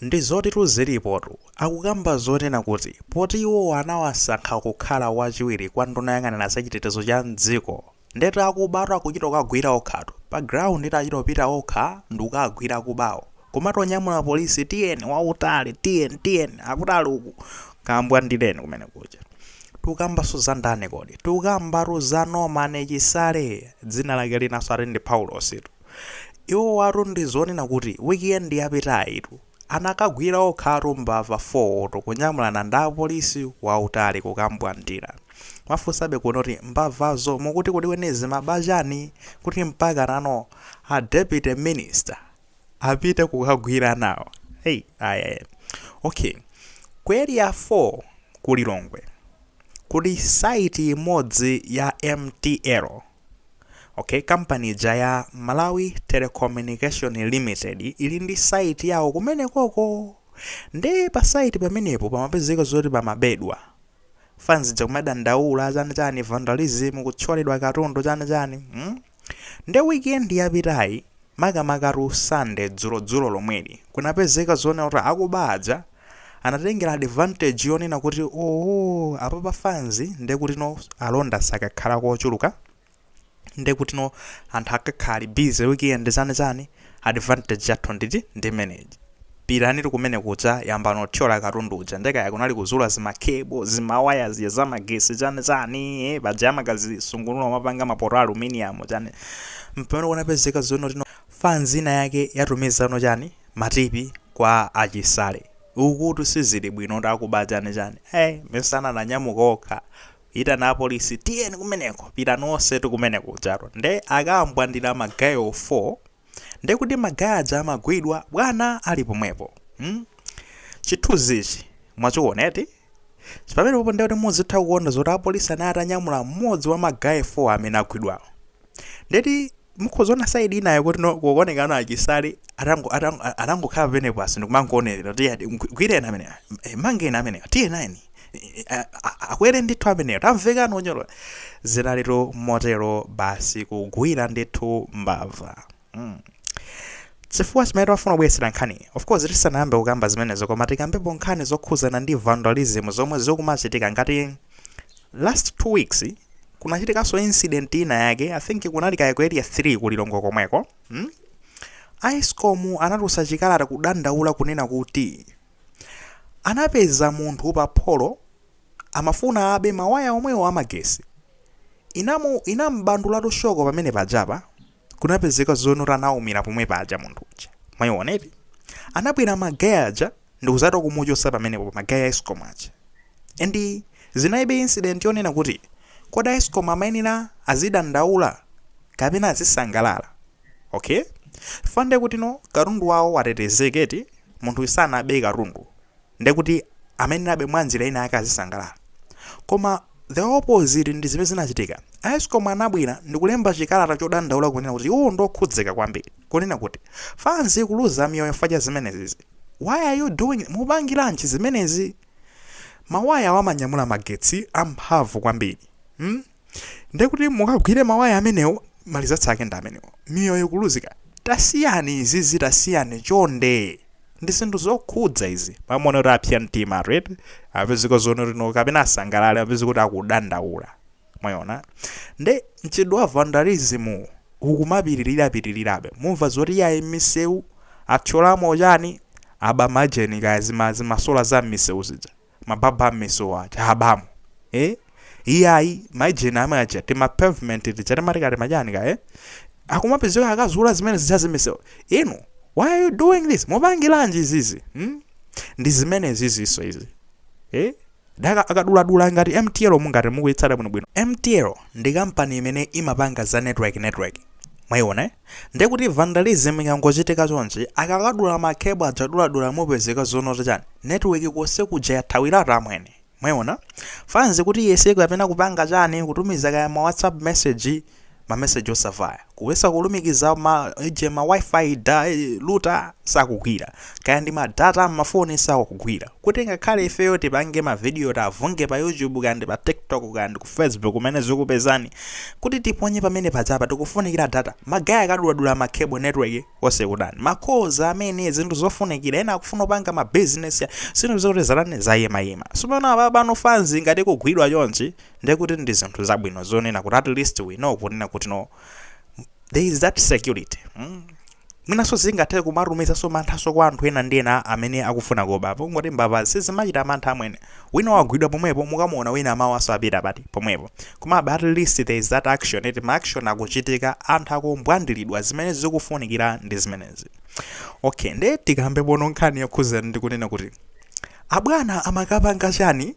Ndizotitu zilipotu. Akukamba zonena kuti poti iwowo anawasankha kukhala wachiwiri kwa nduna yoyang'anira za chitetezo cha m'dziko ndeti akubatu akuchita kukagwira okhatu pa ground eti achita kupita okha ndikukagwira akubawo kumati anyamula police tiyeni wautali tiyeni tiyeni akutali uku kambwandireni kumene kuja. Tikukambanso za ndani kodi? Tikukambatu za Norman Chisale dzina lake linanso ati ndi Paulositu. Iwowatu ndi zonena kuti weekend yapitayitu anakagwira okhatu mbava 4 tu kunyamulana ndi apolisi wautali kukambwandira. Mwafunsabe kuno kuti mbavazo mukuti kulikweni zimaba chani kuti mpaka nano a deputy minister apite kukagwira nawo? Hey, aya aya. Okay. Ku area 4 ku Lilongwe kuli site imodzi ya MTL. Okay, kampani ija ya Malawi Telecommunication Limited ili ndi site yawo kumene koko nde pa site pamenepo pamapezeka zoti pamabedwa fans ja kumadandaula chani chani vandalism kuthyoledwa katundu chani chani hmm? nde weekend yapitayi Makamakatu Sunday dzulo dzulo lomweli kunapezeka zonena kuti akuba aja anatengera advantage yonena kuti ooh apapa fans nde kutino alonda sakakhalako ochuluka nde kutino anthu akakhala ali busy weekend chani chani advantage yathu nditi ndimeneyi. Pitanitu kumene kuja yambani kuthyola katundu uja nde kaya kunali kuzula zima cable, zima waya zija za magesi chani chani eeh paja amakazisungunula kumapanga ma poto a aluminium chani mpamene kunapezeka zoti no fans ina yake yatumizano chani ma tipi kwa a Chisale. Ukutu sizili bwinotu akuba chani chani eeh mesa ananyamuka okha kuitana a police tiyeni kumeneko pitani onsetu kumene kujatu nde akambwandira ma guy 4 nde kuti ma guy aja amagwidwa bwana ali pomwepo mm? chithunzi ichi mwachiona eti pamenepopo nde kuti muzitha kuona zoti apolisi anali atanyamula mmodzi wa ma guy 4 amene agwidwawo ndeti mukhoza kuona saidi inayo kutino kukuoneka ano a Chisale atango- atango- atangokhala penapake ndikumangoonelera kuti eyadi gwireni amenewa eh, mangeni amenewa tiyeni aah akwere ndithu ameneyo tamvekani unyolo zinalito motero basi kugwira ndithu mbava mm. chifukwa chimene timafuna kubweretsera nkhani of course tisanayambe kukamba zimenezo koma tikambepo nkhani zokhuzana ndi vandalism zomwe zikumachitika ngati last two weeks kunachitikanso incident ina yake i think kunali kaye ku area 3 ku Lilongwe komweko hmm? ESCOM anatulutsa chikalata kudandaula kunena kuti Anapeza munthu pa pholo amafuna abe mawaya omwewo amagesi. Inamu inam'bandulatu shoko pamene pajapa. Kunapezeka zonena kuti anaumira pomwe paja munthu uja. Mwaiona eti? Anabwera magay aja ndikuzati kumuchosa pamenepo magay a Escom aja. And zinali interesting yonena kuti kodi a Escom amayenera azidandaula kapena azisangalala? ok chifukwa ndekutino katundu wawo watetezeka eti munthu sanabe katundu ndekuti amayenerabe mwa njira ina yake azisangalala koma the opposite ndi zimene zinachitika escom anabwera ndikulemba chikalata chodandaula kunena kuti iwo ndi okhudzika kwambiri kunena kuti fans ikuluza miyoyo chifukwa cha zimenezizi why are you doing mupangiranji zimenezi mawaya awo amanyamula magetsi amphamvu kwambiri hmm? ndiye kuti mukagwire mawaya amenewo ma results ake ndi amenewo miyoyo kuluzika tasiyani izizi tasiyani chonde ndi zinthu zokhudza izi pamona kuti apsa mtima red apezeka zoona kuti no kapena asangalale apezeka kuti akudandaula mwayona nde mchitidwe wa vandalism ukumapitirirapitirirabe mumva zoti yayi m'misewu athyolamo ma chani aba ma sign kaya zima- zimasola za m'misewu zija mababu am'misewu aja abamu eh? iyayi ma sign amene aja tima pavement tija timatikati machani ka eh? akumapezeka akazula zimene zija zam'misewu inu why are you doing this mupangilanji izizi hmm? ndi zimene zizinso izi eh? daka akaduladula ngati mtl mungati mukuitsata bwinobwino mtl ndi kampani imene imapanga za network network mwayiona eh? Ndiye kuti vandalism ikangochitika chonchi, akakadula ma cable aja duladula mupezeka zonena kuti chani? Network konse kuja yathawiratu amwene. Mwayiona? Fans kuti iyese kapena kupanga chani, kutumiza kaya ma WhatsApp message, ma message osavaya. Kuyesa kulumikiza ma ija ma WiFi, da, router, sakugwira. Kaya ndi ma data a m'mafoni sakugwira. kuti ngakhale ifeyo tipange ma video tikavunge pa YouTube kaya ndi pa TikTok kaya ndi ku Facebook kumene zikupezani kuti tiponye pamene pajapa tikufunikira data magay akaduladula ma cable network yonse kutani ma calls amwene zinthu zofunikira ena akufuna kupanga ma business ya zinthu zokuti zatani zayimayima sopano apa pano fans ngati ikugwidwa chonchi ndiye kuti ndi zinthu zabwino zonena kuti at least we know kunena kuti no there is that security mm? Mwinanso zingathe kumatumizanso manthanso kwa anthu ena ndi ena amene akufuna kuba. Pongoti mbava sizimachita mantha amwene. Wina wagwidwa pomwepo, mukamuona wina mmawanso apita pati? Pomwepo. Komabe at least there is that action eti, ma action akuchitika, anthu akumbwandilidwa, zimene zikufunikira ndi zimenezi. Okay, nde tikambepono nkhani yokhuzana ndi kunena kuti abwana amakapanga chani?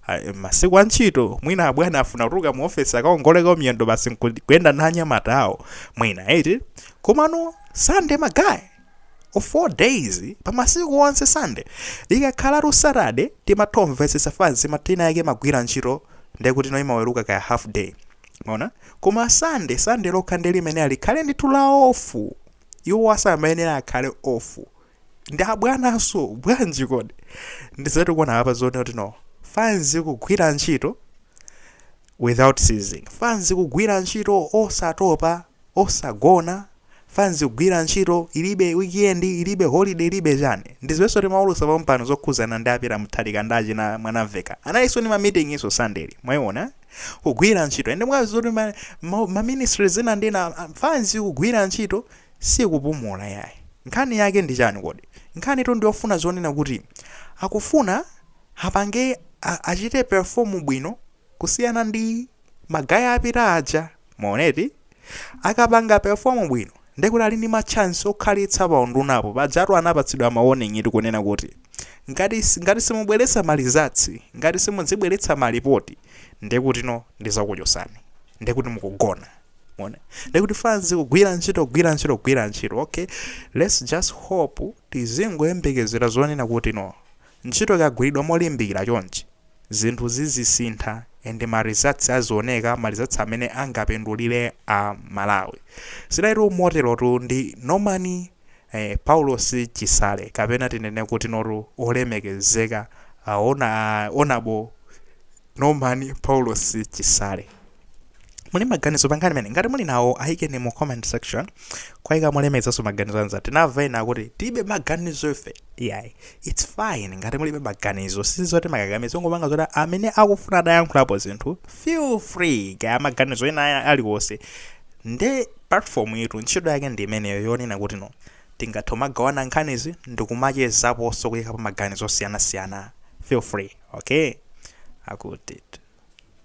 Ha, masiku a ntchito mwina abwana afuna kutuluka mu ofesi akaongoleko miyendo basi nku- kuyenda na anyamata awo mwina eti komano Sunday magayi of all days pa masiku onse Sunday ikakhalatu Saturday timathomvetsetsa fanzi masiku ake magwira ntchito ndekuti no imaweruka kaya half day maona koma sande sande lokha ndi limene alikhale ndithu la off iwo asamayenera akhale off ndi abwananso bwanji kodi ndi zoti tikuona apa zonena kuti no fanzi kugwira ntchito without ceasing fanzi kugwira ntchito osatopa osagona fanzi kugwira ntchito ilibe weekend ilibe holiday ilibe chani ndi zijanso timaulusa pampano zokhuzana ndi a Peter Mutharika ndi achina Mwanamvekha analinso ndi ma meeting inso Sunday mwayiona kugwira ntchito and mwadziwa zoti ma, ma, ma ministry zina ndi zina fanzi kugwira ntchito sikupumula yayi. Nkhani yake ndi chani kodi? Nkhanitu ndi yofuna zonena kuti akufuna apange a apange perform bwino kusiyana ndi magayi apita aja. Mwaona eti? Akapanga perform bwino ndiye kuti ali ndi ma chance okhalitsa pa undunapo. Pajatu anapatsidwa ma warning tu kunena kuti ngati ngati simubweretsa ma results, ngati simudzibweretsa ma report ndiye kutino ndidzakuchotsani. Ndiye kuti mukugona. mwaona ndekuti fanzi kugwira ntchito kugwira ntchito kugwira ntchito okay let's just hope tizingoyembekezera zonena kuti no ntchito ikagwiridwa molimbikira chonchi zinthu zizisintha and ma results azioneka ma results amene angapindulire a malawi zidalitu moterotu ndi norman eh, Paulos Chisale kapena tinene kuti nduna olemekezeka ah, hona honourable Norman Paulos Chisale muli maganizo pankhani imeneyi ngati muli nawo ayikeni mu comment section koma ikani molemekezanso maganizo anzanu tinamva ena kuti tilibe maganizo ife iyayi its fine ngati mulibe maganizo sizoti timakakamiza tungopanga zoti amene akufuna atayankhulapo zinthu feel free kaya maganizo ena aliwonse nde Platform yitu ntchito yake ndi imeneyo yonena kuti no tingathe kumagawana nkhanizi ndikumachezaponso kuyikapo maganizo osiyanasiyana feel free okay akuti.